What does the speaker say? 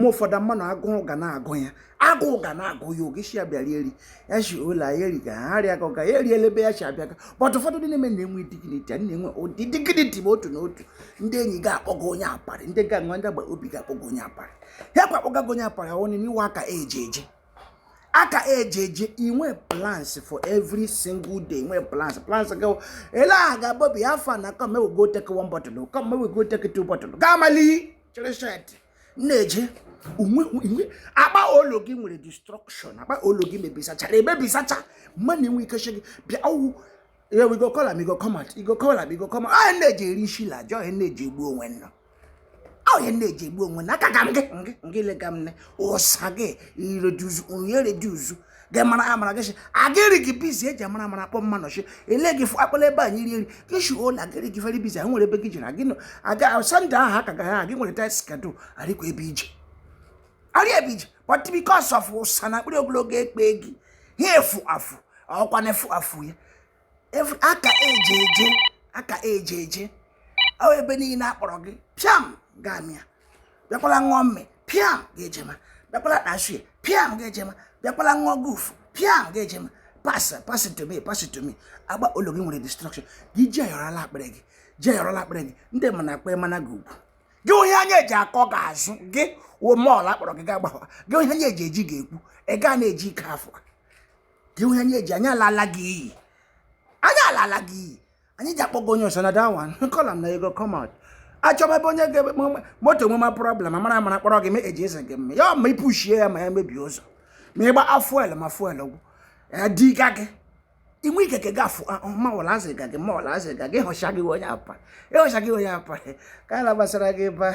ma ụfọdụ mmadụ agụụ ga na-agụ ya agụụ ga na-agụ ya oge isi ya bịara eri ya si ụlọ ya eri ga ha rịa ga ya eriela ebe ya si abịa ga but ụfọdụ ndị na-eme na-enwe dignity a na-enwe ụdị dignity ma otu na otu ndị enyi ga-akpọgo onye aparị ndị ga-enwe ndị agba obi ga-akpọgo onye aparị ya kwa akpọgago onye aparị ọnụ n'iwe aka eji eji aka eji eji inwe plans for every single day inwe plans plans gị ele aha ga bobi afọ na come we go take one bottle come we go take two bottle ga amali chịrị shirt na-eje akpa olu gị nwere destruction akpa olu gị mebisachara emebisacha mmadụ enwe ike gị bịa ọwụ ya we go call am go come out go call am go come out ahụ na-eji eri isi la ajọ ahụ na-eji egbu onwe nna ahụ na-eji egbu onwe nna aka ka m gị ngị lega m ne ụsa gị i reduce onye reduce gị mara amara gị si agịrị gị busy eji amara amara akpọ mma nọchi ele gị fụ akpala ebe anyị rie nri gị si ola agịrị gị very busy nwere ebe gị jere agị aga Sunday ahụ aka gaghị agị nwere tight schedule arịkwa ebe ije arị ebe ije but because of ụsa na akpịrị ogologo ekpe gị ha efu afụ ọkwa na efu afụ ya aka eje eje aka eje eje ebe niile akpọrọ gị pịam gamịa bịakwala ṅụọ mmị piam ga-ejema bịakwala kpashie piam ga-ejema bịakwala ṅụọ gufu piam ga-ejema pass pass to me pass to me agba ụlọ gị nwere destruction gị ji ayọrọla akpịrị gị ji ayọrọla akpịrị gị ndị mana akpa mana gị ugwu gị onye anya eji akọ gị azụ gị wo mọl akpọrọ gị gaa gbakwa gị onye anya eji eji ga-ekwu ị gaa na-eji ike afọ gị onye anya eji anya alala gị iyi anya alala gị iyi anyị ji akpọgo onye ọsọ na that one call am na e go come out achọba ebe onye ga-ebe moto nwe ma problem amara amara kpọrọ gị ma eji eze gị mme ya ma ipuchie ya ma ya mebie ụzọ ma ịgba fuel ma fuel gwụ diga gị inwe ike ka gafu mawala azịga gị mawala azịga gị ịhọcha gị onye apa ịhọcha gị onye apa ka a na-agbasara gị ba